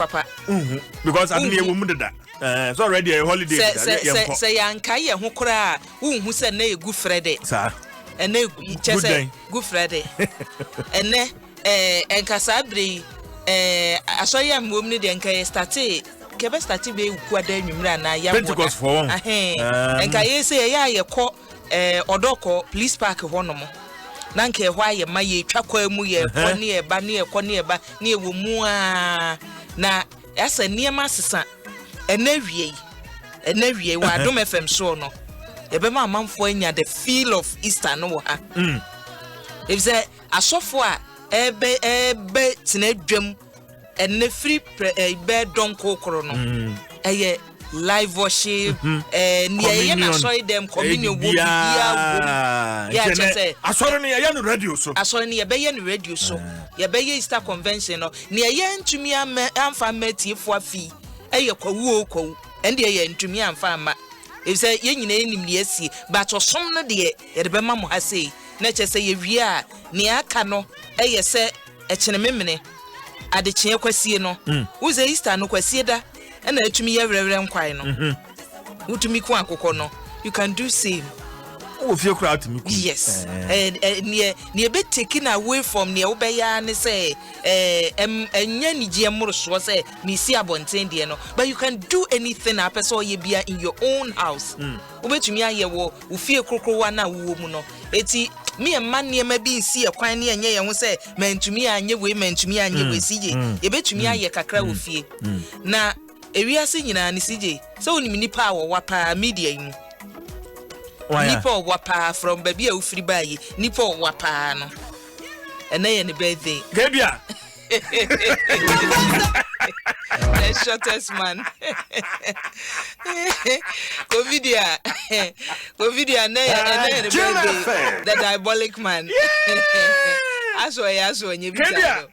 papa. nhu because ade yɛ wɔ mu deda ɛɛ sɛ ɔrɛdi ɛyɛ holiday bi sa yɛ nkɔ. sɛ yanka yɛ ho koraa nhu sɛ ɛnɛ yɛ gu frɛ de. saa ɛnɛ kyɛ sɛ gu frɛ de ɛnɛ ɛɛ eh, nkasa bere yi ɛɛ eh, asɔre a mmom ne deɛ nka yɛ state kɛbɛ state bɛ gu ada nwumire anaa yɛ amoda pentikɔsfoɔ wɔn ahɛn nka yɛ sɛ yɛ yɛ a yɛ kɔ Ɛɛ ɔdɔ kɔ police park hɔ nom na nka ɛhɔ ayɛ ma yɛ twa kwan mu yɛ kɔ ne yɛ ba ne yɛ kɔ ne yɛ ba ne yɛ wɔ mu aa na ɛsɛ nneɛma asesa ɛnɛ wie yi ɛnɛ wie wɔ adom fm soɔ no yɛbɛma amanfoɔ anya the feel of easter no wɔ ha mm. efisɛ asɔfo a ɛbɛ ɛbɛ tena dwam Ɛnnɛ firi prɛ ɛɛ bɛɛ dɔnkoo koro no ɛyɛ live worship ɛɛ nea ɛyɛ na asɔre dɛm communion wɔ bibiara wɔ mu yɛ akyɛ sɛ asɔre no yɛyɛ no radio so asɔre no yɛbɛyɛ no radio so yɛbɛyɛ easter convention no nea ɛyɛ ntumi ama anfa ama atiefo afi ɛyɛ kwawu o kwawu ɛndeɛ yɛ ntumi anfa ama efisɛ yɛn nyinaa yɛnim nea ɛsie but ɔsom no deɛ yɛde bɛma mo ha sei na ɛkyɛ sɛ yɛwie a nea aka no ɛyɛ sɛ Ɛkyene memene, adekyeɛ kwasie no, wo dze Easter no kwasieda na etumi yɛ werɛwerɛ nkwae no. Mhm. Wotumi ku akokɔ no. You can do same. Wɔ fie koraa tumi ku. Yes. Eh. Eh, eh, neɛ neɛ ɛbɛ take no away from neɛ wobɛyɛ ara ne sɛ eh, ɛm ɛnyɛ anigyeɛ mmorosoɔ sɛ mesi abɔnten deɛ no but you can do anything a apɛ sɛ ɔyɛ bia in your own house. Mm. wobɛtumi ayɛ wɔ wo fie krokrowa no a wowɔ mu no. Enti me mma nneɛma bi nsi yɛ kwan ne ɛnyɛ yɛn ho sɛ mantumi anyɛ wei, mantumi anyɛ wei. CJ, yɛbɛtumi ayɛ kakra wɔ fie. Na ewiase nyinaa no, CJ, sɛ wonim nnipa a wɔwa paa media yi mu, nnipa a wɔwa paa from baabi a wofiri baeɛ, nnipa a wɔwa paa no, ɛnɛ yɛ ne birthday. Gabriel. the shortest man covid a covid a ɛnɛ yɛ ɛnɛ yɛ ne birthday the diabolic man aso ɛyɛ aso ɛnyɛ bi sa no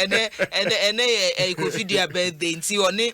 ɛnɛ ɛnɛ ɛnɛ yɛ ɛyɛ covid a birthday nti ɔne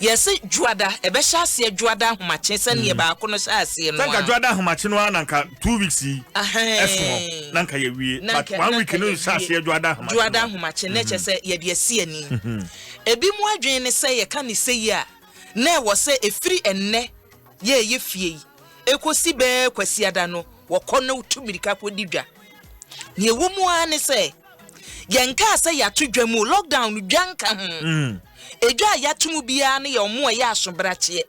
Yɛse Dwoada, ɛbɛhyɛ aseɛ Dwoada ahomakye sɛdeɛ baako no hyɛ aseɛ no ara. Sɛ nka Dwoada ahomakye no ara na nka two weeks yi ɛsoɔ na nka yɛwie but one week no hyɛ aseɛ Dwoada ahomakye no ara. Dwoada ahomakye na ɛkyɛ sɛ yɛde asi ani. Ebi mo adwene ne sɛ yɛka ne sɛ yi a na ɛwɔ sɛ ɛfiri ɛnnɛ yɛ ɛyɛ fie yi ɛkɔsi bɛɛ Kwasiada no wɔkɔ na wotu mirika kɔdi dwa. Deɛ ɛwɔ mu ara ne sɛ. Yɛnkaa sɛ yɛato dwa mu o, lockdown no dwa nka ho. Edwa a yɛato mu biara no yɛ wɔn a ɛyɛ asobrakyeɛ.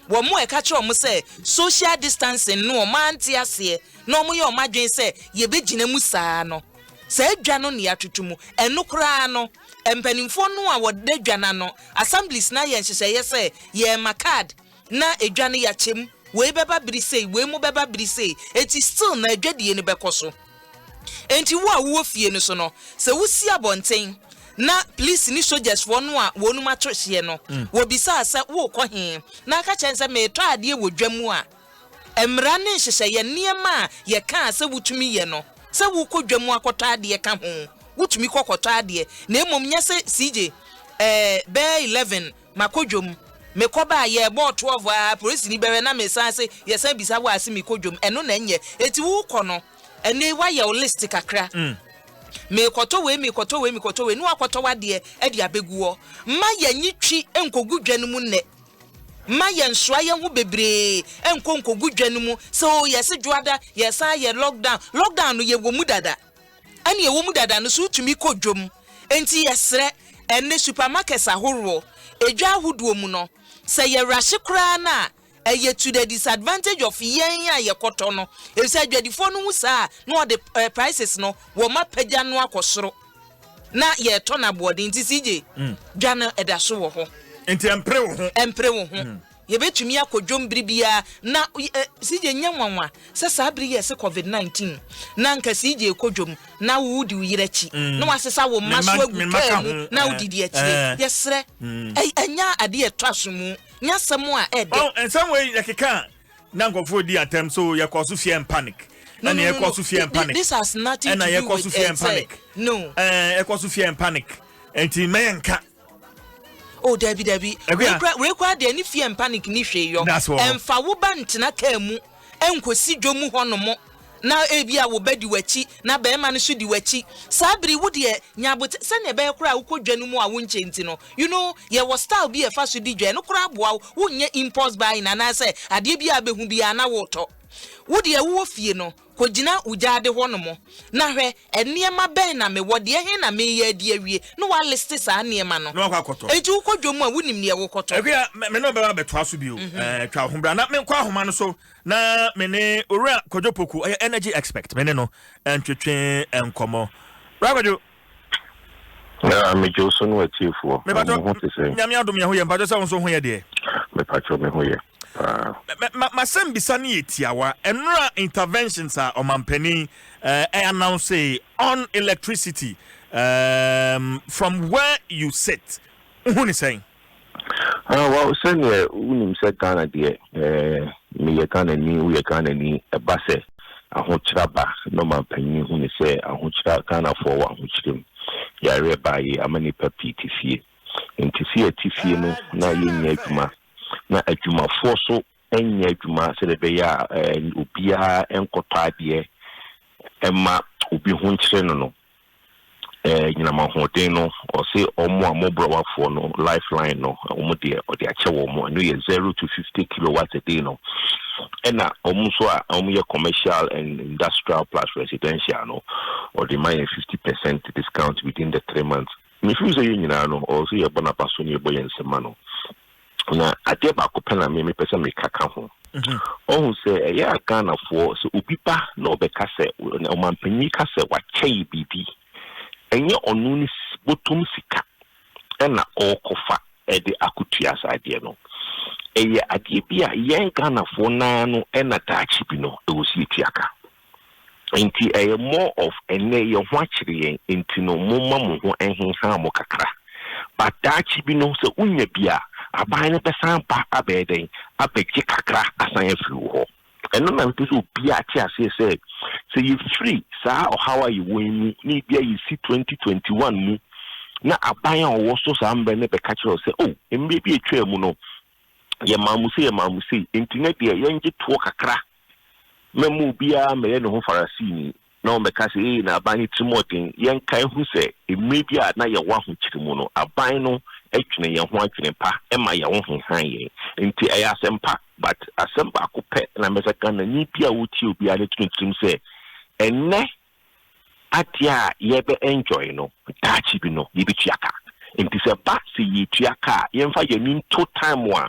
Wɔn a ɛka kyerɛ wɔn sɛ social distancing no wɔn ante aseɛ na wɔyɛ wɔn adwene sɛ yɛbɛgyina mu saa no. Saa dwa no na yɛatoto mu. Ɛno koraa no, mpanimfoɔ no a wɔda dwa no ano, assemblies no ayɛ nhyehyɛeɛ sɛ yɛrema card. Na edwa no yɛakyɛ mu, wei bɛba bere sei, wei mo bɛba bere sei, enti still na adwadie no bɛkɔ so. Enti wo a wowɔ fie no so no, sɛ wosi abɔnten na police ne sogyasfoɔ no a wɔnom ato hyeɛ no, mm. wɔbisa a sɛ worekɔ he, na aka kyɛn sɛ meretɔ adeɛ wɔ dwa mu a, mmara ne nhyehyɛeɛ nneɛma a yɛka a sɛ wotumi yɛ no, sɛ wokɔ dwa mu akɔtɔ adeɛ ka ho, wotumi kɔkɔtɔ adeɛ, na mmom nyɛ sɛ CJ, eh, bɛɛ 11 Makɔ dwom. Mekɔ baa yɛ bɔɔ twelve aa polisini bɛwɛ na me san se yɛ san bisa wo ase mekɔ dwom ɛno na ɛnyɛ eti wo kɔ no ɛno yi wayɛ wo list kakra mekɔ tɔ wei mekɔ tɔ wei mekɔ tɔ wei ne wakɔ tɔ wadeɛ ɛde abegu hɔ mma yɛ nye twi nkɔ gu dwa no mu nnɛ mma yɛ nsoa yɛ ho bebree nkɔ nkɔ gu dwa no mu sɛ o yɛ se dwoada yɛ san yɛ lockdown lockdown no yɛ wɔ mu dada. Ɛne ɛwɔ mu dada no so wotumi kɔ dwom. Enti yɛsrɛ, ɛnnɛ supermarkets ahoroɔ, edwa ahodoɔ mu no, sɛ yɛ rushe koraa no a, ɛyɛ to the disadvantage of yɛn a yɛkɔtɔ no. Efisɛ adwadifoɔ no hu saa a, na wɔde prices no, wɔapagya no akɔ soro. Na yɛretɔ no aboɔden. Nti CJ, dwa no ɛda so wɔ hɔ. Nti ɛmpere wo ho. Ɛmpere wo ho. Yɛbɛtumi akɔ dwom bere biara na CJ nyɛ nwanwa sɛ saa bere yi a ɛse covid 19 na anka CJ rekɔ dwom na wodi wo yere akyi na wasesa wo mma so agu kaa mu na wodidi akyire. Yɛsrɛ ɛnyɛ adeɛ a ɛtɔ asomu, nyɛ asɛm a ɛɛdɛ. Ɔn nsɛm wei yɛkeka a na nkurɔfoɔ redi atɛm so yɛkɔɔ so fear and panic ɛna yɛkɔɔ so fear and panic this has nothing to do with ɛna yɛkɔɔ so fear and panic ɛɛ yɛkɔɔ so fear and panic nti mɛyɛ nka. oh dabi dabi wei kura deɛ ne fear and panic ne hwee yɔ ɛnfa wo ba ntena kaa mu ɛnkosi dwa mu hɔ nom na ebi a wo ba di w'akyi na bɛrima no so di w'akyi saa bere wo deɛ nyabote sɛnea ɛbɛyɛ koraa a wokɔ dwa no mu a wonkyɛ nti no you know yɛwɔ style bi a ɛfa so di dwa no koraa boa wo wonyɛ impulse buying anaasɛ adeɛ bi a bɛhu biara na wotɔ wo deɛ wowɔ fie no Kogyina wo gyaade hɔnom, na hwɛ, nneɛma bɛn na mewɔ, deɛ he na mereyɛ adi awie? Na wɔaliste saa nneɛma no. Na wakɔ akɔtɔ. Enti wokɔ dwom a, wonim deɛ wokɔtɔ. Ɛhwɛ a, me ne wo bɛba abɛtoa so bio. Ɛɛ, twa wo ho bra na menkɔ ahoma no so na me ne Owura Kwadwo Poku, ɔyɛ energy expect, me ne no ntwetwe nkɔmmɔ. Bra Kwadwo! Yaa, megye wo so ne w'atiefoɔ. Mepakyɛ, Mo ho te sɛn? Nyame adom yɛ ho yɛ. Mepakyɛ sɛ wo nso ho yɛ deɛ? Mepakyɛ, me ho yɛ. Paa. Ma, ma, m'asɛmbisa no yɛ tiawa. Nnora interventions a ɔmanpanin eh, announce on electricity um, from where you sit, wohu ne sɛn? Ah, well, sɛdeɛ wonim sɛ Ghana deɛ eh, meyɛ Ghanani, woyɛ Ghanani, ɛba sɛ ahokyera ba na ɔmanpanin hu ne sɛ ahokyera, Ghanafoɔ wɔ ahokyerɛ mu. Yareɛ baeɛ ama nnipa pii te fie. Nti sɛ yɛte fie no na yɛnnya adwuma na adwumafoɔ nso nyɛ adwuma sɛdeɛ ɛbɛyɛ a obiara nkɔtɔ adeɛ mma obi ho nkyere no no, anyinam ahoɔden no, ɔse wɔn a wɔbrɛwafoɔ no lifeline no, wɔn deɛ ɔde akyɛ wɔn, ɛno yɛ zero to fifty kilowatts a day no, ɛna wɔn nso a wɔyɛ commercial and industrial plus residential no, ɔde ma yɛn fifty percent discount within the three months. Me feel sɛ yɛn nyinaa no ɔwɔ sɛ yɛ bɔ no abaso na yɛ bɔ yɛn nsam ma no na adeɛ baako pɛ na me me pɛ sɛ me ka ka ho ɔho sɛ ɛyɛ a Ghana foɔ sɛ obi ba na ɔbɛ ka sɛ ɔmampanyin ka sɛ wakyɛ yɛ biribi ɛnyɛ ɔno ne botom sika ɛna ɔɔkɔfa ɛde akotua saa adeɛ no ɛyɛ adeɛ bi a yɛn Ghana foɔ naa no ɛna daakye bi no ɛwɔ si yɛ tuaka. Enti ɛyɛ more of ɛnnɛ yɛn ho akyere yɛn enti no momma mo ho nhenha mo kakra. But daakye bi no sɛ wonya bi a, aban no bɛsan aba abɛyɛ dɛn? Abɛgye kakra asan afiri wo hɔ. Ɛno na mepɛ sɛ obiara te aseɛ sɛ, sɛ yɛfiri saa ɔhaw a yɛwɔ yi mu na ebia yɛsi 2021 mu na aban a ɔwɔ so saa mmerɛ no bɛka kyerɛ wo sɛ, oh, mmerɛ bi atwaa mu no Yɛmaa mo sei, yɛmaa mo sei, enti nnɛ deɛ yɛngye toɔ kakra mma mu biara mmɛyɛ ne ho Farisini na ɔmmɛka sɛ, 'Ee, na aban no tirimɔden! Yɛnkae nhu sɛ mmerɛ bi a na yɛwɔ ahokyere mu no, aban no dwene yɛn ho adwene pa, ɛma yɛn ho hehan yɛn. Enti ɛyɛ asɛm pa, but asɛm baako pɛ na mɛsɛ Ghanani biara a ɔretie obiara no tumi tirim sɛ, ɛnnɛ adeɛ a yɛbɛ enjoy no daakye bi no yɛbɛtua ka. Nti sɛ ɛba sɛ yɛretua ka a, yɛmfa yɛn ani nto time a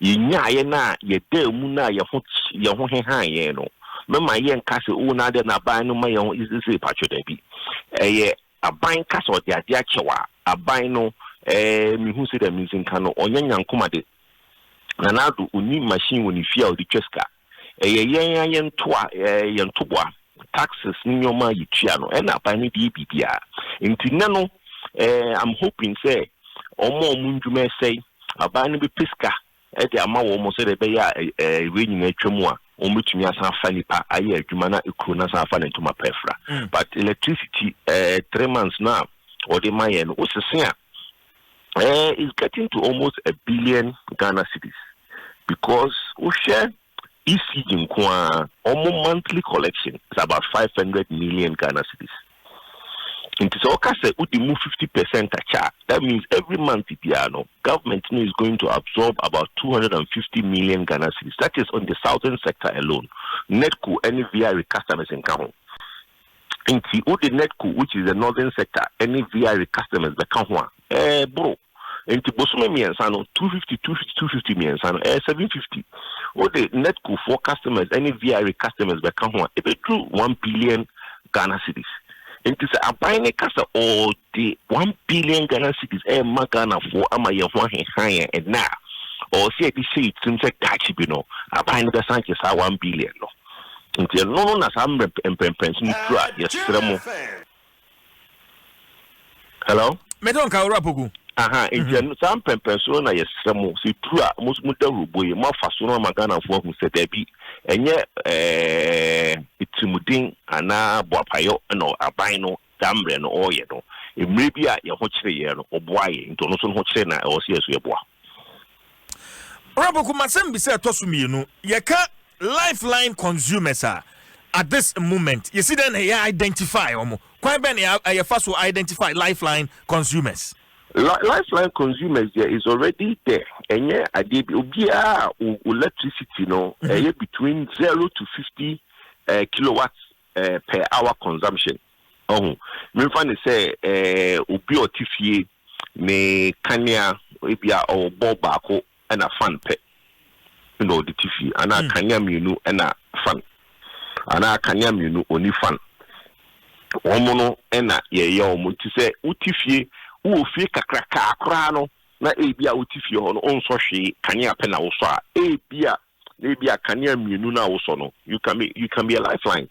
yɛnyaaeɛ no a yɛdaa mu no a yɛn ho yɛn ho hehaa yɛn no. Mɛma yɛnka sɛ oo na adɛn na aban no ma yɛn ho sesei patrɔ dabi. Ɛyɛ aban ka sɛ ɔde adeɛ akyɛ wo a, aban no ɛɛ mehu sɛdeɛ mesi nka no ɔnyɛ Nyankomade. Nana Addo ɔnni machine wɔ ne fie a ɔde twa sika. Ɛyɛ yɛn ara yɛn toa, ɛɛ, yɛn toboa, taxes ne nneɛma a yɛtua no, ɛna aban no de yɛ biribiara. Nti nnɛ no, ɛɛ, I'm hoping sɛ wɔn a wɔn ndwuma ɛsɛe, aban no bɛpɛ sika de ama wɔn sɛdeɛ ɛbɛyɛ a, ɛɛ, wei nyinaa atwa mu a, wɔn bɛtumi asan afa nnipa ayɛ adwuma na kuro no asan afa ne ntoma pa afira. But electricity, ɛɛ, three months no a wɔde ma yɛn no, wosese a, eh, it's getting to almost a billion Ghana cities because wohwɛ ECG nko a wɔn monthly collection is about five hundred million Ghana cities. Nti sɛ ɔka sɛ wodi mu fifty percent akyɛ a that means every month biara no government no is going to absorb about two hundred and fifty million Ghana cities that is on the southern sector alone. NEDCO ɛne VRE customers nka ho. Enti wode NEDCO, which is the Northern Sector, ne VIRE customers bɛka ho a, ɛboro. Enti bosome mmiɛnsa no, two fifty, two fifty, two fifty mmiɛnsa no, ɛyɛ seven fifty. Wode NEDCO foɔ customers ne VIRE customers bɛka ho a, ɛbɛduru one billion Ghana cedis. Enti sɛ aban no ka sɛ ɔde one billion Ghana cedis rema Ghanafoɔ ama yɛn ho aheha yɛn ɛnnɛ a, ɔwɔ sɛ yɛde hyɛ yɛn tirim sɛ daakye bi no, aban no bɛsan agye saa one billion no. Nti ɛno no na saa mmerɛ mpɛmpɛnso no tu a yɛsrɛ mo. Hello? Me to nka owura poku. Aha, nti ɛno saa mpɛmpɛnso no na yɛsrɛ mo sɛ tu a mo mo da hurubo yi mo afa so no ama Ghanafoɔ ahu sɛ daabi ɛnyɛ ɛɛ tirimuden anaa boapayɔ na aban no saa mbrɛ no ɔɔyɛ no, mber bi a hɛn ho kyeree hɛn no, ɔboaa hɛn, ntsi ɔno so no ho kyere no a, ɔwɔ sɛ hɛn so yɛboa. Ɔrapoko, M'asɛmbisa a ɛtɔ so mmienu, Yɛka lifeline consumers a, at this moment, yɛsi dɛn na yɛ identify wɔn? Kwan bɛn na yɛfa so identify lifeline consumers? Li, Lifeline consumers deɛ is already there. Ɛnyɛ adeɛ bi, obiara a o, o electricity no, ɛyɛ between zero to fifty ɛɛ kilowatt eh, per hour consumption. Ɔho, memfa no sɛ eh, obi a ɔte fie ne kanea ebi a ɔwɔ bɔl baako ɛna fan pɛ na ɔde te fie, anaa hmm. kanea mmienu ɛna fan, anaa kanea mmienu ɔni fan. Wɔn no ɛna yɛyɛ wɔn nti sɛ wote fie, wowɔ fie kakrakaa koraa no na ebi a wote fie hɔ no ɔnsɔ hwee kanea pɛ na wosɔ a ebi a na ebia kanea mmienu no a wosɔ no you can be you can be a lifeline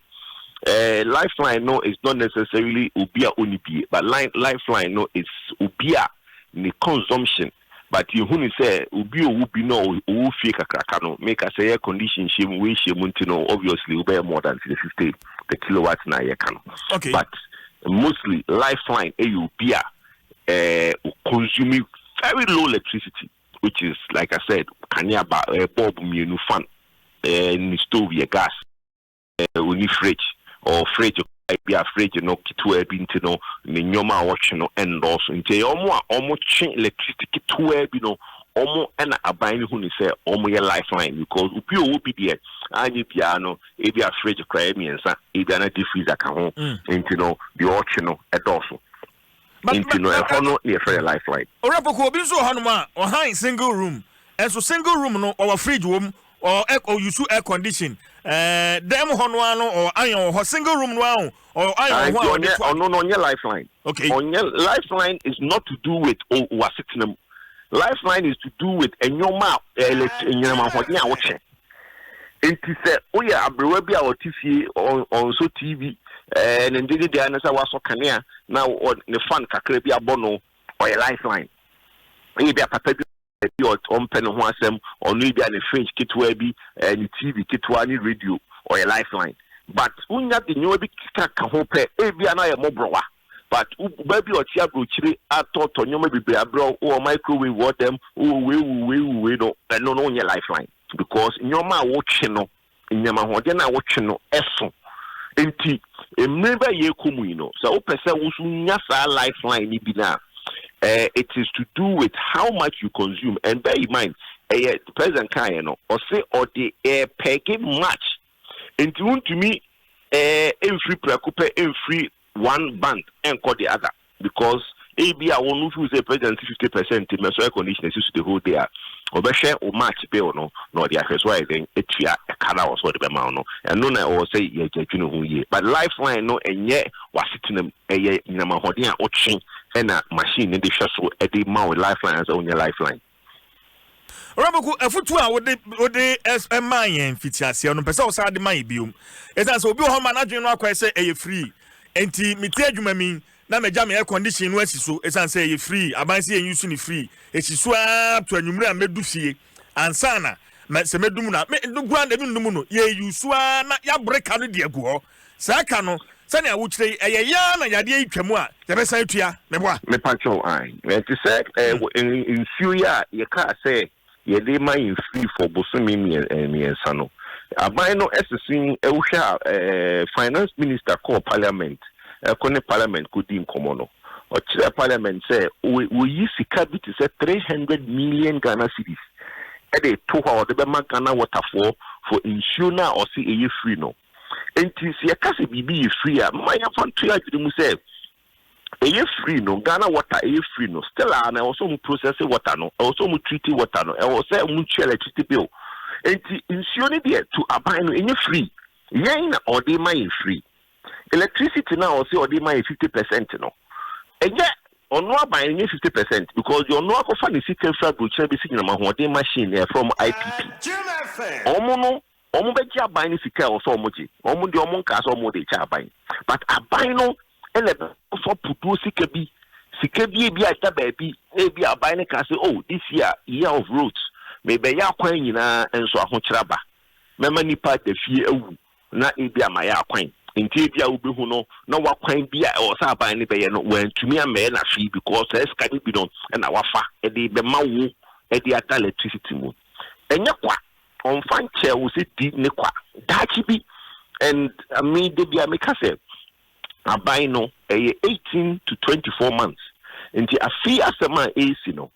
eh, lifeline no is not necessarily obi a ɔni bie but line lifeline no is obi a ne consumption but yɛhu ne sɛ obi a ɔwɔ bi no a ɔwɔ fie kakraka no meka sɛ yɛ condition hyɛ mu wei hyɛ mu nti no obviously wobɛyɛ more than 350 the kilowatt na yɛka no okay. but mostly lifeline ɛyɛ obi a eh, consume very low electricity which is like I said kanea ba ɛɛ bulb mmienu fan ɛɛ ne stove yɛ gas ɛɛ oni fridge ɔwɔ fridge koraa bi a fridge no ketewa bi nti no ne nneɛma a wɔtwe no ɛndɔɔso nti ɛyɛ wɔn a wɔn twe electricity ketewa bi no wɔn ɛna aban no hu ne sɛ wɔn yɛ lifeline because obi ɔwɔ bi deɛ anyɛ biara no ebi a fridge koraa yɛ mmiɛnsa ebi a na deep freezer ka ho mm. nti no deɛ ɔtwe no ɛdɔɔso. Nti no ɛhɔ no na yɛfrɛ no lifeline. Owura Poku, obi nso wɔ hɔnom a ɔhan single room, nso single room no ɔwɔ fridge wɔ mu, ɔwɔ ɔ use air condition, ɛɛ dan mu hɔ no ara no ɔwɔ iron wɔ hɔ, single room no ara o, ɔwɔ iron wɔ ho a ɔde to a. Ɔno no ɔnyɛ lifeline. Okay. Ɔnyɛ lifeline is not to do with o w'asetena mu. Lifeline is to do with nneɛma a ɛlɛt nyinam ahoɔden a wokyɛ. Enti sɛ woyɛ aberewa bi a ɔte fie, ɔnsɔ TV, ɛɛ ne ngyegye deɛ ne sɛ wasɔ kanea na ne fan kakra bi abɔ no, ɔyɛ lifeline. Ɛyɛ bi a papa bi bi a ɔmpɛ ne ho asɛm, ɔno ebi a ne fridge ketewa bi, ɛɛ ne TV ketewa ne radio, ɔyɛ lifeline. But wonya de nneɛma bi ka ka ho pɛ, ebi a na ayɛ mmɔborɔwa. but wo ba bi a ɔte aburokyire atɔtɔ nneɛma bebree abrɛ wo wɔ microwave wɔ dɛm wɔ wei wo wei wo wei no ɛno no nyɛ lifeline because nneɛma a wotwe no nneɛma ahoɔden a wotwe no ɛso nti mmiri bɛ yɛ kɔ mu yi no sɛ wopɛ sɛ woso nya saa lifeline no bi no a eh, it is to do with how much you consume and bear in mind ɛyɛ president kaeɛ no ɔse ɔde ɛpɛge eh, match Enti wontumi eh mfiri prɛko pɛ mfiri one bank nkɔ the other because ebi a wɔn feel sɛ president si fifty percent nti mɛsɔ air condition esi so the whole day a ɔbɛhwɛ o match bill no na ɔde ahwɛ so ayɛ dɛn atua ɛka no a ɔsɛ ɔde bɛma no ɛno na ɔwɔ sɛ yɛgya dwene ho yie but lifeline no ɛnyɛ wasetena mu ɛyɛ nyinam ahoɔden a ɔtwe ɛna machine no de hwɛ so ɛde ma o lifeline sɛ onyɛ lifeline. Ɔwurabɔku afutuo a wode wode ɛmaa yɛn fitiaseɛ no mpɛ sɛ ɔsan de ma yɛ biom ɛsan sɛ obi wɔ hɔ ma n'adwene no akɔɛ sɛ ɛyɛ free nti mete adwuma mi na magya me air condition no asi so ɛsan sɛ ɛyɛ free aban sɛ yɛn yusu ne free ɛsi so ara to anwummere a mɛdu fie ansana mɛ sɛ mɛdum no a mɛ no kura na ɛbi nnum no yɛ yusu ara na yɛabreka no de agu hɔ Sɛ ɛka no sɛnea wokyerɛ yi, ɛyɛ yɛn ara na yadeɛ yi twa mu a, yɛbɛsan atua. Meboa? Mepa kyɛw, ae. Te sɛ nsuo yi a yɛkaa sɛ yɛde ma yɛn firi for bosome mmiɛnsa no, aban no se se wohwɛ a finance minister kɔɔ parliament, ɛkɔ ne parliament kɔdii nkɔmmɔ no, ɔkyerɛɛ parliament sɛ wɔyi sika bi te sɛ three hundred million Ghana cedis de to hɔ a wɔde bɛma Ghana water foɔ for nsuo no a ɔse ɛyɛ free no. Enti sɛ yɛka sɛ biribi yɛ free a, mma yɛmfa nto yɛn adwene mu sɛ ɛyɛ free no. Ghana water ɛyɛ free no. Still a na ɛwɔ sɛ wɔn process water no, ɛwɔ sɛ wɔn treat water no, ɛwɔ sɛ wɔn tua electricity bill. Enti nsuo no deɛ to aban no ɛnyɛ free. Yɛn na ɔde ma yɛn free. Electricity no a ɔsɛ ɔde ma yɛn fifty percent no, ɛnyɛ ɔno aban ɛnyɛ fifty percent because deɛ ɔno akɔfa ne sika fira aburokyerɛ bɛsi nyinam ahoɔden machine ɛfrɛ wɔn IPP. Wɔn no Wɔn bɛgye aban no sika a ɛwɔ sɛ wɔgye. Wɔn deɛ wɔn nkaa sɛ wɔde rekyɛ aban but aban no na ɛbɛfa putuo sika bi, sika bi ebi a ɛda baabi na ebi aban no kaa sɛ oh this year year of roads mebɛyɛ akwan nyinaa nso ahokyerɛ aba, mɛma nipa da fie awu na ebi a mayɛ akwan nti ebi a wobɛhu no na wakwan bi a ɛwɔ sɛ aban no bɛyɛ no wantumi ammɛyɛ na hwee because saa sika no bi no na wafa de bɛma wo de ada electricity mu ɛnyɛ kwa. Ɔmfa nkyɛɛ wo sɛ di ne kwa daakye bi and me da biara meka sɛ aban no ɛyɛ eighteen to twenty four months nti afei asɛm a ɛresi no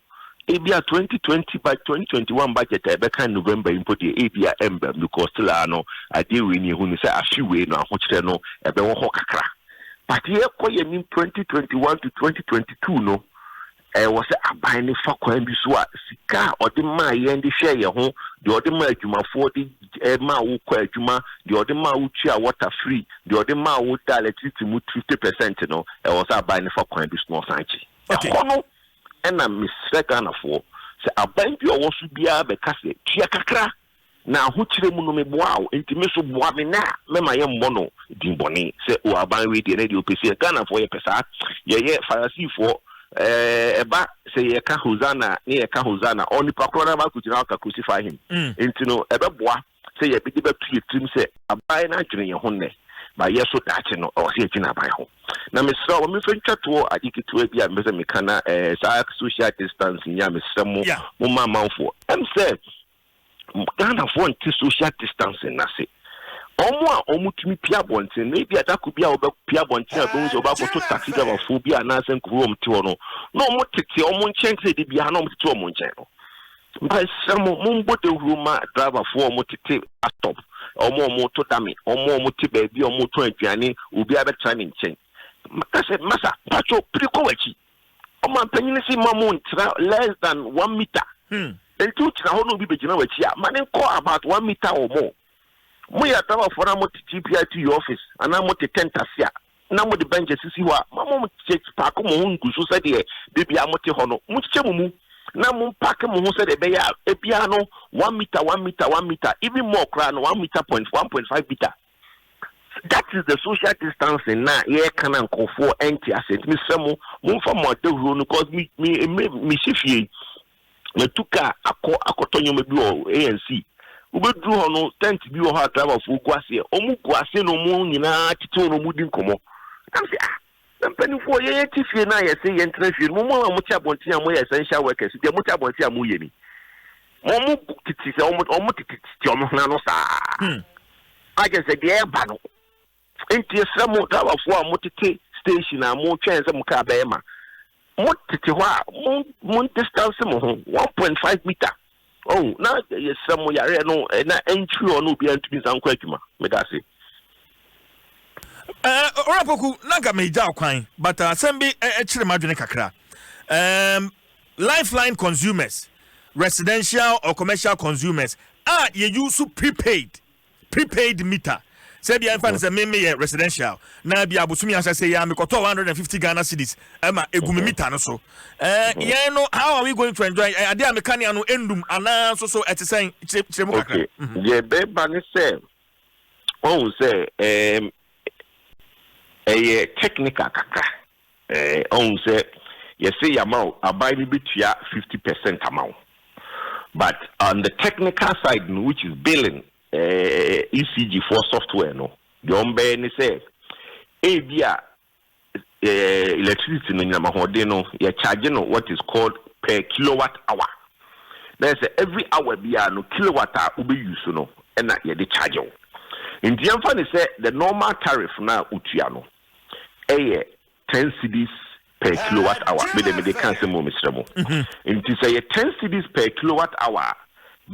ebia twenty twenty by twenty twenty one budget a ɛbɛka November yi mpo deɛ ebia ɛmba mu because still ara no adeɛ wei ni ehu no sɛ afi wei no ahokyerɛ no ɛbɛwɔ hɔ kakra but yɛkɔ yɛn nim twenty twenty one to twenty twenty two no Ɛwɔ sɛ aban no fa kwan bi so a sika a ɔde maa yɛn de hwɛɛ yɛn ho, deɛ ɔde maa adwumafoɔ de maa wokɔɔ adwuma, deɛ ɔde maa wotuaa wɔta fri, deɛ ɔde maa wodaa lɛtrisiti mu fifte pɛsɛnt no, ɛwɔ sɛ aban no fa kwan bi so na ɔsan gye. Ɛhɔ no na mesrɛ Ghanafoɔ, sɛ aban bi a ɔwɔ so biara bɛka sɛ tua kakra Na ahokyerɛ mu no meboaa wo, nti me nso boa me nɛ a mɛma yɛmmɔ no din bɔne sɛ oh aban wei deɛ nɛ deɛ ɔpɛ sei, Ghanafoɔ yɛpɛ saa, yɛyɛ Farasifoɔ, eh, ɛba sɛ yɛka Hosanna ne yɛka Hosanna, ɔɔ nipa korɔ no aba akɔgyina hɔ aka Crucify him, nti no ɛbɛboa sɛ yɛde bɛto yɛ tirim sɛ aban no adwene yɛn ho nnɛ, but yɛ nso daakye no ɛwɔ sɛ yɛdwene aban ho. Na mesrɛ wo ma memfa ntwa toɔ ade ketewa bi a mepɛ sɛ meka na eh, saa social distancing yi a mesrɛ mo, Yeah. momma amanfoɔ ɛm sɛ Ghanafoɔ nte social distancing no ase. Wɔn a wɔtumi pue abɔnten no, ebi a da koro bi a wɔbɛpue abɔnten a wɔbɛhu sɛ wɔbɛakɔto taxi driverfoɔ bi anaasɛ nkurɔfoɔ a wɔte hɔ no, na wɔtete wɔn nkyɛn te sɛ de biara na wɔtete wɔn nkyɛn no. Mesrɛ mo, mommɔ dawuro ma driverfoɔ a wɔtete bus stop, wɔn a wɔto dame, wɔn a wɔte baabi a wɔtɔn aduane, obiara bɛtra ne nkyɛn. Maka sɛ, Masa, mpakyɛw, piri kɔ w'akyi. Ɔman panyin no se mma mo ntena less than one meter. Enti wogyina hɔ na obi begyina w'akyi a, ma no nkɔ about one meter or more. Moyɛ adawurfoɔ na mote GPI to your office anaa mote tent ase a, na mode benches sisi hɔ a, ma monkyekyɛ paake mo ho ngu so sɛdeɛ da biara mote hɔ no. Monkyekyɛ mo mu na mompaake mo ho sɛdeɛ ɛbɛyɛ a, ebiara no one meter, one meter, one meter, even more koraa no, one meter point, one point five meter. That is the social distancing na yɛka na nkurɔfoɔ ɛnte ase nti mesrɛ mo momfa mo adahuro no cause me me me mesi fie matu kaa akɔ akɔtɔ nneɛma bi wɔ anc wobɛduru hɔ no tent bi wɔ hɔ a driverfoɔ gu aseɛ ɔmo gu ase na ɔmo nyinaa tete hɔ na ɔmo di nkɔmmɔ nam sɛ ah Mpanimfoɔ, yɛn ati fie no a yɛse yɛntena fie no, mo mo a mote abɔnten a moyɛ essential workers, deɛ mote abɔnten a moyɛ ni. Wɔn tete sɛ wɔn wɔn tete tete wɔn ho ano saa. Hmm. Agye sɛ deɛ ɛba no. Nti esrɛ mo driverfoɔ a motete station a motwɛn sɛ mo kaa bɛyɛ ma. Mo tete hɔ a, mo mo distance mo ho one point five meter. Oh, na yɛsrɛ mo yareɛ no na ɛntwiri hɔ na obiara ntumi nsa nkɔ adwuma. Meda ase. Eh, Owura Poku, na nka megya kwan, but uh, asɛm bi eh, eh, kyere m'adwene kakra. Um, lifeline consumers, residential or commercial consumers a yɛyi so prepaid prepaid meter sɛ bia ɛmfa no sɛ me meyɛ residential na bia abosomi ahyɛsɛ yi a mekɔtɔ 150 Ghana cedis ɛma ɛgu me mita no so yɛn no how are we going to enjoy ade a meka nea no ɛndum anaa nso so ɛte sɛn kyerɛ mu kakra deɛ ɛbɛba ne sɛ ɔhu sɛ ɛyɛ technical kakra Ɛɛ, ɔhu sɛ yɛse yɛama wo, aban no bɛtua fifty percent ama wo but on the technical side no which is billing, ɛɛ, ECG foɔ software no, deɛ wɔbɛyɛ ne sɛ ebia ɛɛ, electricity no, anyinam ahoɔden no, yɛ charge no what is called per kilowatt hour. Na yɛ sɛ every hour biara no, kilowatt a wobɛ use no na yɛde charge wo. Nti yɛmfa no sɛ the normal tariff no a wotua no, yɛ ten cedis per kilowatt hour, me deɛ mede ka asɛm o mesrɛ mo, nti sɛ yɛ ten cedis per kilowatt hour a,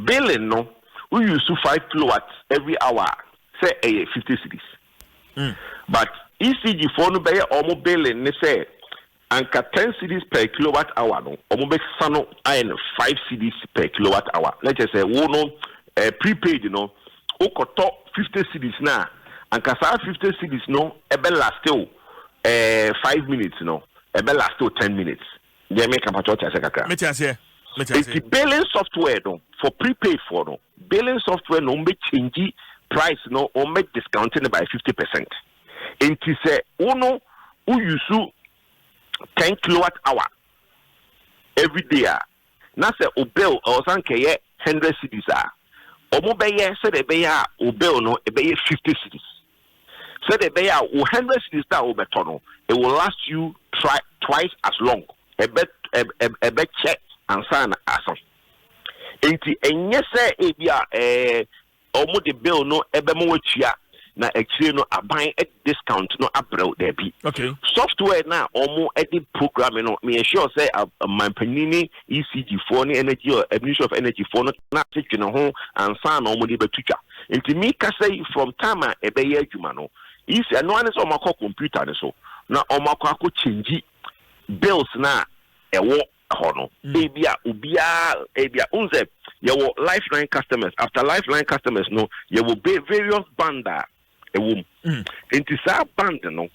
billing no wo use five kilowatt every hour a sɛ ɛyɛ fifty cedis, but ECG foɔ no bɛyɛ wɔn billing ne sɛ. Anka ten cedis per kilowatt hour no ɔmo bɛ sa no ayɛ no five cedis per kilowatt hour na kyerɛ sɛ wo no ɛɛ prepaid no wo kɔ tɔ fifty cedis no a anka saa fifty cedis no ɛbɛ last wo ɛɛ five minutes no ɛbɛ last wo ten minutes deɛ meka mpakyɛ ɔte aseɛ kakra. Mete aseɛ mete aseɛ. Eti billing software no for prepaid foɔ no billing software no wɔn bɛ change price no wɔn bɛ discount no by fifty percent. Enti sɛ wo no wo use ten kilowatt hour everyday a, na sɛ wo bill ɛwɔ sɛ anka ɛyɛ hundred cedis a, wɔn bɛyɛ sɛdeɛ ɛbɛyɛ a wo bill no ɛbɛyɛ fifty cedis. Sɛdeɛ ɛbɛyɛ a wo hundred cedis no a wobɛtɔ no, it will last you tri twice as long. Ɛbɛ ɛb ɛb ɛbɛkyɛ ansa na asa. Enti ɛnyɛ sɛ ebi a ɛɛ wɔde bill no bɛma watua na akyire no aban de discount no abrɛ wo daabi okay. software no a wɔde program no meyɛ sure sɛ manpanyin ne ecg foɔ ne energy uh, administration of energy foɔ no na ase dwene ho ansa na wɔde bɛto twa nti mi kasa yi from time a ɛbɛyɛ adwuma no ec ɛno ane sɛ wɔakɔ computer no so na wɔakɔ akɔ kyɛngyi bills no a ɛwɔ hɔ no ebia obiara ebia wohu sɛ yɛwɔ lifeline customers after lifeline customers no yɛwɔ be various band a ɛwɔ mu mm. nti saa band no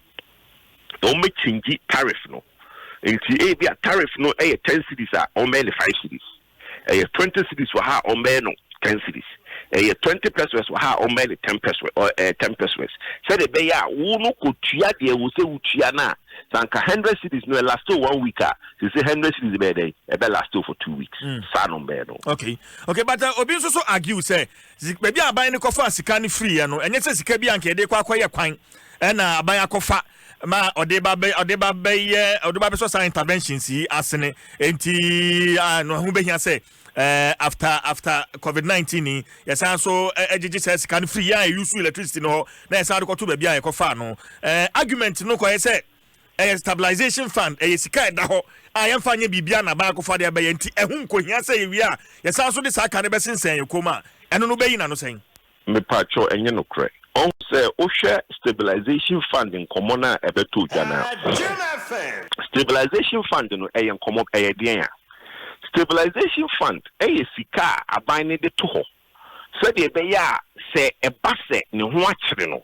wɔbɛkyingyi tariff no nti ebia tariff no yɛ ten cities a wɔbɛyɛ no five cities ɛyɛ twenty cities wɔ ha a wɔbɛyɛ no ten cities ɛyɛ twenty pesos wɔ ha a wɔbɛyɛ no ten pesos ɛɛ ten pesos sɛdeɛ ɛbɛyɛ a wo no kɔtua deɛ wɔ sɛ wotua no a sɛ anka hundred cities no ɛlasto one week a sese hundred cities bɛyɛ dɛn ɛbɛ lasto for two weeks hmm. saa no bɛyɛ no. okay okay but uh, obi nso so argue sɛ baabi a aban no kɔfa sika no firi yɛ no ɛnyɛ sɛ sika bi a nka yɛde kɔ akɔyɛ kwan ɛna aban akɔfa ma ɔde ba bɛ ɔde ba bɛyɛ ɔde ba bɛsɔ saa interventions yi asene nti ah, no ho bɛhia sɛ Eh, after after covid nineteen ni yɛsan nso eh, eh, gyegye saa sika no firi yɛn a yɛyusu electricity no hɔ na yɛsan de kɔto baabi a yɛkɔfaa no eh, argument no kɔyɛ sɛ ɛyɛ stabilization fund ɛyɛ sika a ɛda hɔ a yɛmfa nyɛ biribi a na baako fa deɛ bɛyɛ nti ɛho nkohia sɛ yɛwie a yɛsan nso de saa ka no bɛsensɛn yɛ kɔn mu a ɛno no bɛyi na no sɛn Mepakyɛw ɛnyɛ nokorɛ. Ɔn. Sɛ wohwɛ stabilization fund nkɔmɔ no a ɛbɛtɔ dwa no a, stabilization fund no ɛyɛ nkɔmɔ ɛyɛ deɛn a? Stabilization fund ɛyɛ sika a aban no de to hɔ sɛdeɛ ɛbɛyɛ a sɛ ɛba sɛ ne ho akyere no,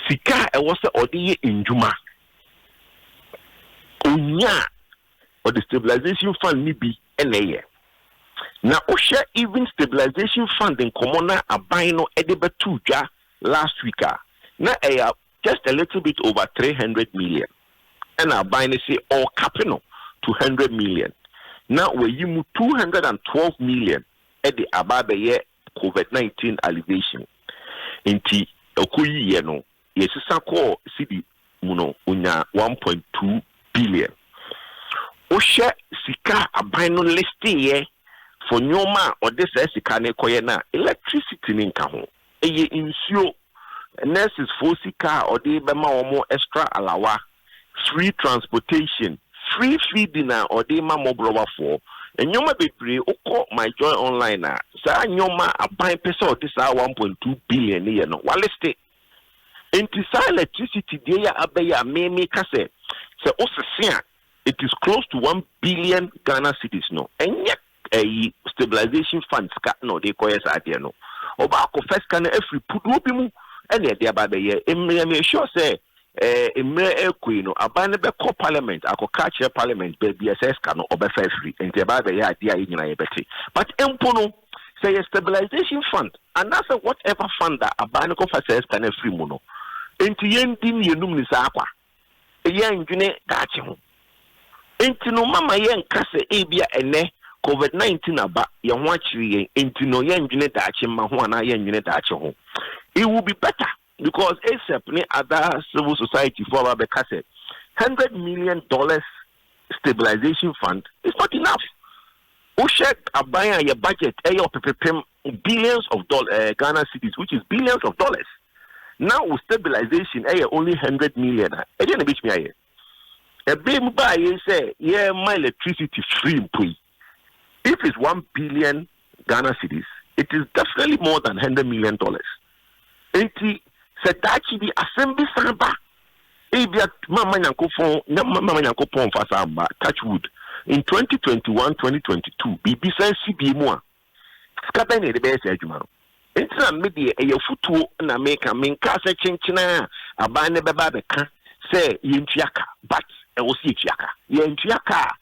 sika a ɛwɔ sɛ ɔde yɛ nnwuma ɔnya a wɔde stabilization fund no bi na ɛyɛ. Na wohwɛ even stabilization fund nkɔmmɔ na aban no de bɛtoo dwa last week a, na ɛyɛ just a little bit over three hundred million. Ɛna aban no se ɔrekape no to hundred million. Na wɔayi mu two hundred and twelve million de aba abɛyɛ covid nineteen alleviation. Nti ɛkɔ yiiɛ no, Yɛsesa kɔɔ cedi mu no, wonyaa one point two billion. Wohwɛ sika a aban no listeeɛ for nnoɔma a ɔde saa sika no rekɔyɛ no a, electricity no nka ho. Ɛyɛ nsuo, nurses foɔ sika a ɔde rebɛma wɔn extra alawa, free transportation, free feeding a ɔde rema mmɔborɔwafoɔ, nnoɔma bebree. Wokɔ My Joy Online a, saa nnoɔma a aban pɛ sɛ ɔde saa one point two billion no yɛ no, walistee. Enti saa electricity deɛ yi a aba yi a me me ka sɛ sɛ wo sese a it is close to one billion Ghana cedis no ɛnyɛ ɛyi stabilization fund sika na ɔde kɔyɛ saa adeɛ no ɔba akɔ fɛ sika no afiri puduo bi mu ɛna ɛde aba abɛyɛ mmerɛ me sure sɛ ɛɛ mmerɛ ɛkɔ yi no aban no bɛkɔ parliament akɔka akyerɛ parliament baabi a sɛ sika no ɔbɛfa afiri nti ɛba abɛyɛ adeɛ a yɛ nyinaa yɛbɛte but mpo no Sɛ ɛyɛ stabilisation fund anaasɛ what ever fund a aban no kɔfa saa sika no afiri mu no nti yɛndi mmienum no saa kwa. Yɛndwene daakye ho. Nti no mama yɛnka sɛ ebia ɛnnɛ covid nineteen aba, yɛn ho akyere yɛn, nti no yɛndwene daakye mma ho anaa yɛndwene daakye ho. It will be better Because ASEP ne other civil society foɔ aba bɛka sɛ hundred million dollars stabilization fund is not enough. Wohwɛ aban a yɛ budget ɛyɛ ɔpepepem billions of doll eh, Ghana cedis which is billions of dollars. Na wo stabilization ɛyɛ only hundred million a ɛdeɛ na ebetumi ayɛ. Ɛbɛn mu baa yei sɛ yɛma electricity free mpo yi. if it's one billion Ghana cedis it is definitely more than hundred million dollars nti sɛ daakye bi asɛm bi san ba ebi a mama nyankopɔn mama nyankopɔn nfa saa mba touch wood in 2021 2022 biribi san si bie mu a sika bɛn na yɛde bɛyɛ saa adwuma no nti na me deɛ ɛyɛ futuo na meka menka sɛ kyenkyena a aban no bɛba abɛka sɛ yɛntua ka but ɛwɔ sɛ yɛtua ka yɛntua ka a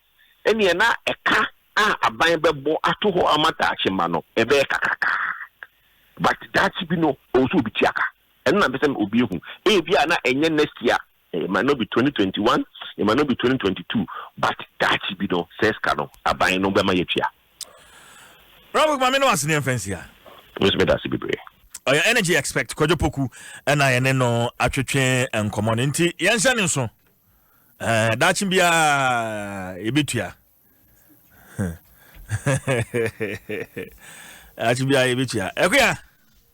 ɛnneɛ na ɛka a aban bɛbɔ ato hɔ ama daakye mma no, ɛbɛyɛ kakrakaa. But daakye bi no, ɛwɔ sɛ obi tua ka. Ɛno na mpɛ sɛ obi ahu. Ebia na ɛnyɛ next year, it might not be twenty twenty one, it might not be twenty twenty two, but daakye bi no, saa sika no, aban no bɛma yɛatua. Bravo Kuma, me ne wase ne mfɛnsia. Miss me dase bebree. Ɔyɛ energy expect Kwadwo Poku ɛna yɛne no atwetwe nkɔmɔ no nti yɛnhyɛ ne nso. daakye biara yɛbɛtua daakye biara yɛbɛtua ɛkoya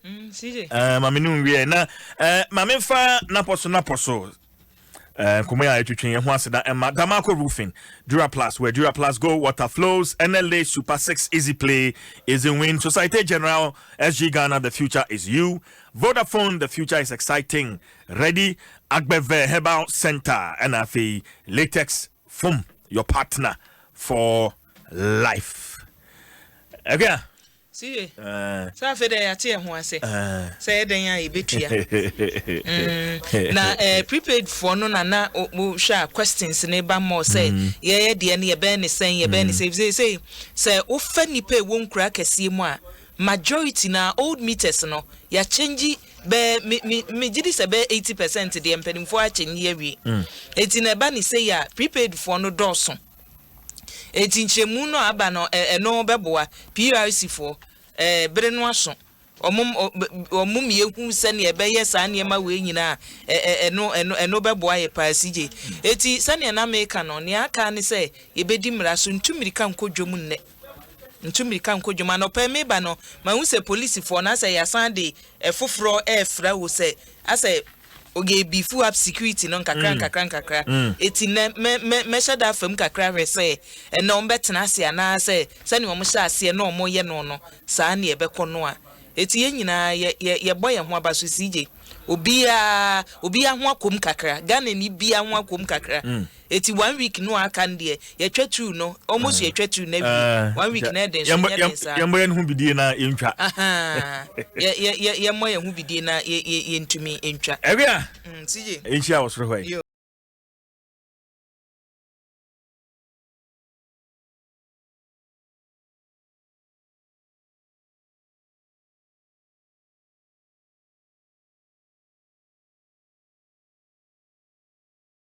mm, eh, mame no nwieɛ na eh, mame fa napɔ so napɔ so eh, nkɔmmɔ yɛ a ɛtwetwe yɛ ho aseda ɛma damaco roofing dura plus where dura plus go water flows nla super six easy play is in win society general sg ghana the future is you vodafone the future is exciting Ready Agbɛvɛ Herbal Centre na afei Latex Foam, your partner for life. Ɛkɛ a. Si ye. Sɛ afei dɛ yɛate yɛn ho ase sɛ yɛ dɛn a yɛbɛtua. Na prepaid foɔ no na na wohwɛ a questions no ba mmɔ sɛ yɛyɛ deɛ no yɛbɛyɛ ne sɛn yɛbɛyɛ ne sɛn sɛ sɛ sɛ wofa nnipa ɛwɔ nkura akɛseɛ mu a majority na old meters no yɛakyɛngye Bɛ me me megye di sɛ bɛyɛ eighty percent deɛ mpanimfoɔ akyɛnni awie. Mm. Eti na ɛba ne sei a prepaid foɔ no dɔɔso. Eti nkyerɛmu no a aba no ɛ- ɛno bɛboa PRC foɔ ɛɛ bere no aso. Wɔn wɔn mmienu sɛnea ɛbɛyɛ saa nneɛma wei nyinaa ɛ- ɛ- ɛno ɛno ɛno bɛboa yɛ paa sigye. Eti sɛnea na meka no nea aka ne sɛ yɛbɛdi mmara so ntu mmirika nkɔ dwam nnɛ. Metu mmirika nkɔ dwom. Anɔpa yi mereba no, mahu sɛ polisifoɔ no asɛ yɛasan de foforɔ refra wo sɛ asɛ oge bifu up security no nkakra mm. nkakra nkakra. Mm. Eti nɛ mɛ mɛ mɛhyɛ da afam kakra hwɛ sɛ ɛnɛ wɔn bɛtena ase anaasɛ sɛnea wɔn hyɛ aseɛ na wɔn yɛ no no saa nea ɛbɛkɔ no a. Eti yɛn nyinaa yɛ yɛ yɛbɔ yɛn ho aba so si gye. Obiara obiara ho akɔm kakra. Ghana ni biara ho akɔm kakra. Mm. Eti one week no a aka no deɛ yɛtwa two no wɔn nso yɛtwa two no awie ah, one week na ɛden so nyɛ den saa. Yɛmmɔ yɛn ho bidie na yɛntwa. Yɛ yɛ yɛ yɛmmɔ yɛn ho bidie na yɛ yɛ yɛntumi ntwa. Ɛwɛ a. Mm, Nsiye. Nhyia wɔ soro hɔ yi.